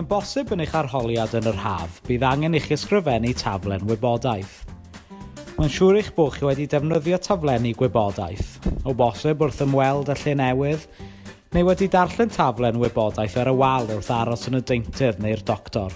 Mae'n bosib yn eich arholiad yn yr haf, bydd angen i chi ysgrifennu taflen wybodaeth. Mae'n siŵr eich bod chi wedi defnyddio taflenni gwybodaeth, o bosib wrth ymweld â lle newydd, neu wedi darllen taflen wybodaeth ar y wal wrth aros yn y deintydd neu'r doctor.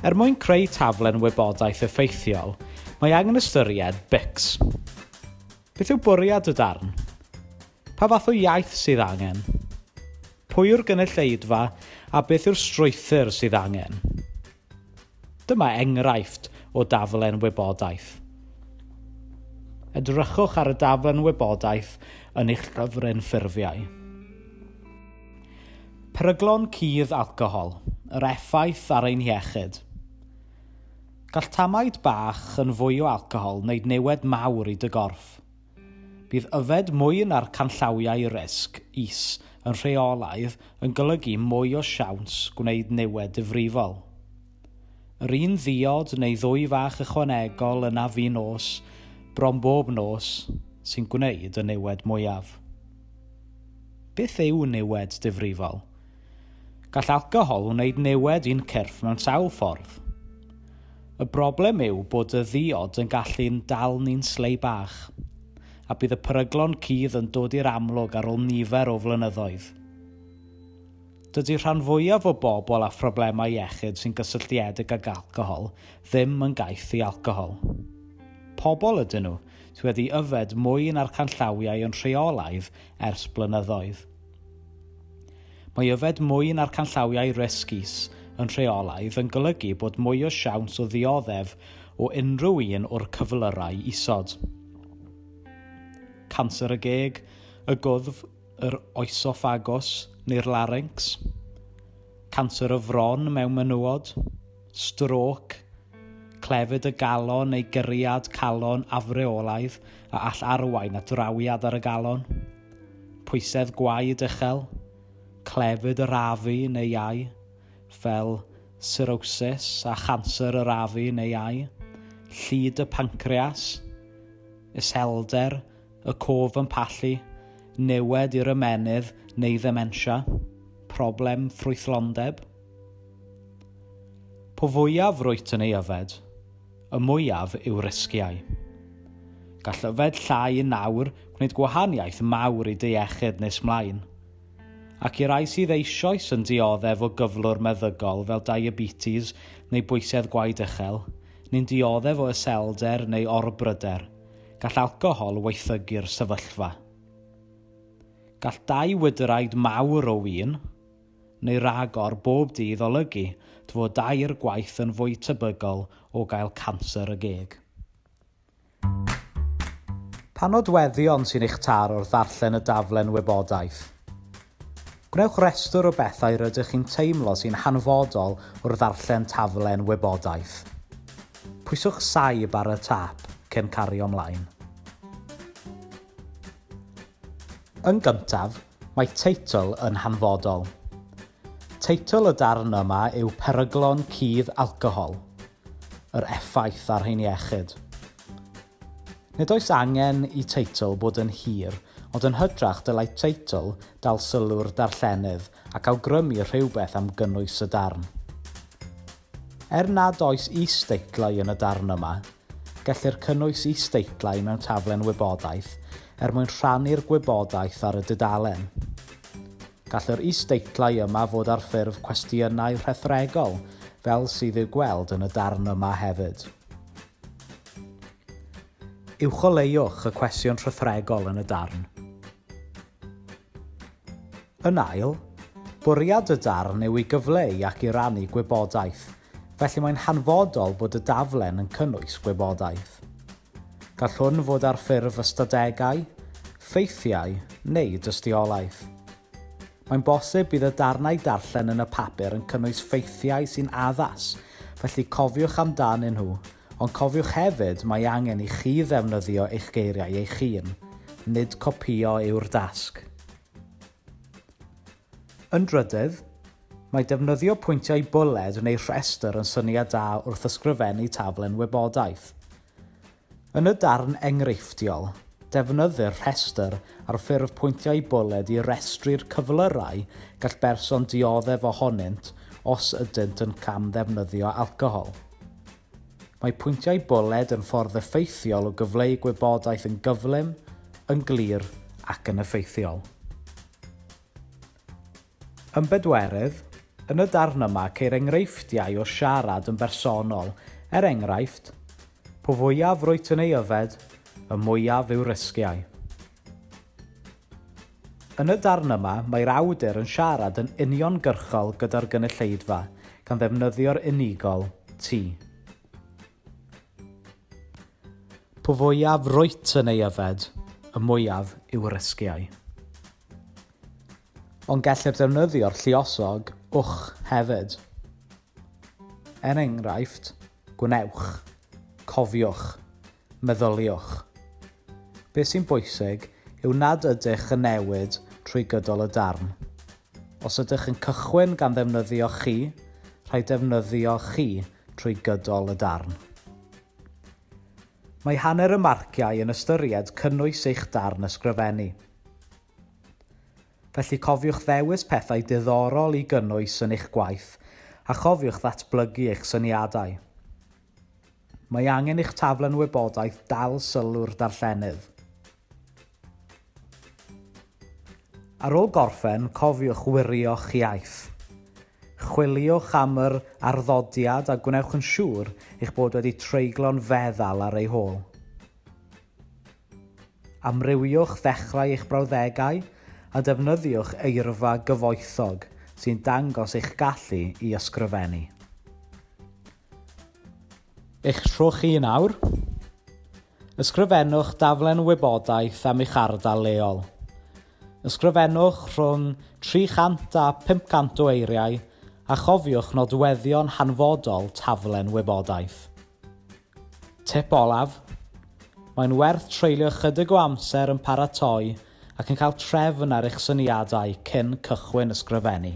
Er mwyn creu taflen wybodaeth effeithiol, mae angen ystyried BICS. Beth yw bwriad y darn? Pa fath o iaith sydd angen? Pwy yw'r gynulleidfa a beth yw'r strwythur sydd angen? Dyma enghraifft o daflen wybodaeth. Edrychwch ar y daflen wybodaeth yn eich llyfryn ffurfiau. Peryglon cudd alcohol, yr effaith ar ein hiechyd. Gall tamaid bach yn fwy o alcohol wneud niwed mawr i dy gorff. Bydd yfed mwy na'r canllawiau risg is yn rheolaidd yn golygu mwy o siawns gwneud niwed difrifol. Yr un ddiod neu ddwy fach ychwanegol yn afu nos bron bob nos sy'n gwneud y niwed mwyaf. Beth yw niwed difrifol? Gall alcohol wneud niwed i'n cyrff mewn sawl ffordd. Y broblem yw bod y ddiod yn gallu'n dal ni'n slei bach, a bydd y peryglon cudd yn dod i'r amlwg ar ôl nifer o flynyddoedd. Dydy rhan fwyaf o bobl â phroblemau iechyd sy'n gysylltiedig ag alcohol ddim yn gaeth i alcohol. Pobl ydyn nhw sydd wedi yfed mwy na'r canllawiau yn rheolaidd ers blynyddoedd. Mae yfed mwy na'r canllawiau risg is yn rheolaidd yn golygu bod mwy o siawns o ddioddef o unrhyw un o'r cyflyrau isod. Canser y geg, y gwddf, yr oesoffagos neu'r laryncs, canser y fron mewn menywod, strôc, clefyd y galon neu gyriad calon afreolaidd a all arwain at rawiad ar y galon, pwysedd gwaed uchel, clefyd yr afu neu iau, fel sirosis a chanser yr afu neu iau, llid y pancreas, iselder y cof yn pallu, niwed i'r ymennydd neu ddementia, problem ffrwythlondeb. Po fwyaf rwyt yn ei yfed, y mwyaf yw risgiau. Gall yfed llai yn nawr gwneud gwahaniaeth mawr i dy iechyd nes mlaen. Ac i rai sydd eisoes yn dioddef o gyflwr meddygol fel diabetes neu bwysedd gwaed uchel, neu'n dioddef o iselder neu orbryder, Gall alcohol waethygu'r sefyllfa. Gall dau wydyraid mawr o win, neu ragor bob dydd olygu dy fod dair gwaith yn fwy tebygol o gael canser y geg. Pa nodweddion sy'n eich taro wrth ddarllen y daflen wybodaeth? Gwnewch restr o bethau rydych chi'n teimlo sy'n hanfodol wrth ddarllen taflen wybodaeth. Pwyswch Saib ar y tap cyn cario ymlaen. Yn gyntaf, mae teitl yn hanfodol. Teitl y darn yma yw Peryglon Cudd Alcohol, Yr Effaith ar ein Iechyd. Nid oes angen i teitl fod yn hir, ond yn hytrach dylai teitl dal sylw'r darllenydd ac awgrymu rhywbeth am gynnwys y darn. Er nad oes is-deitlau yn y darn yma, gellir cynnwys is-deitlau mewn taflen wybodaeth er mwyn rhannu'r gwybodaeth ar y dudalen. Gall yr is-deitlau yma fod ar ffurf cwestiynau rhethregol, fel sydd i'w gweld yn y darn yma hefyd. Uwcholeuwch y cwesion rhythregol yn y darn. Yn ail, bwriad y darn yw i gyfleu ac i rannu gwybodaeth, felly mae'n hanfodol bod y daflen yn cynnwys gwybodaeth. Gall hwn fod ar ffurf ystadegau, ffeithiau neu dystiolaeth. Mae'n bosib bydd y darnau darllen yn y papur yn cynnwys ffeithiau sy'n addas, felly cofiwch amdanyn nhw, ond cofiwch hefyd mae angen i chi ddefnyddio eich geiriau eich hun, nid copïo yw'r dasg. Yn drydydd, mae defnyddio pwyntiau bwled neu rhestr yn syniad da wrth ysgrifennu taflen wybodaeth. Yn y darn enghreifftiol, defnyddir rhestr ar ffurf pwyntiau bwled i restru'r cyflyrau gall berson dioddef ohonynt os ydynt yn cam-ddefnyddio alcohol. Mae pwyntiau bwled yn ffordd effeithiol o gyfleu gwybodaeth yn gyflym, yn glir ac yn effeithiol. Yn bedwerydd, yn y darn yma ceir enghreifftiau o siarad yn bersonol, er enghraifft, Po fwyaf rwyt yn ei yfed, y mwyaf yw risgiau. Yn y darn yma, mae'r awdur yn siarad yn uniongyrchol gyda'r gynulleidfa, gan ddefnyddio'r unigol, ti. Po fwyaf rwyt yn ei yfed, y mwyaf yw risgiau. Ond gellir defnyddio'r lluosog wch hefyd. Er enghraifft, gwnewch, cofiwch, meddyliwch. Beth sy'n bwysig yw nad ydych yn newid trwy gydol y darn. Os ydych yn cychwyn gan ddefnyddio chi, rhaid defnyddio chi trwy gydol y darn. Mae hanner y marciau yn ystyried cynnwys eich darn ysgrifennu. Felly cofiwch ddewis pethau diddorol i gynnwys yn eich gwaith a chofiwch ddatblygu eich syniadau. Mae angen i'ch taflen wybodaeth dal sylw'r darllenydd. Ar ôl gorffen, cofiwch wirio'ch iaith. Chwiliwch am yr arddodiad a gwnewch yn siŵr eich bod wedi treiglo'n feddal ar ei hôl. Amrywiwch ddechrau eich brawddegau a defnyddiwch eirfa gyfoethog sy'n dangos eich gallu i ysgrifennu. Eich tro chi yn awr. Ysgrifennwch daflen wybodaeth am eich ardal leol. Ysgrifennwch rhwng 300 a 500 o eiriau a chofiwch nodweddion hanfodol taflen wybodaeth. Tip olaf, mae'n werth treulio ychydig o amser yn paratoi ac yn cael trefn ar eich syniadau cyn cychwyn ysgrifennu.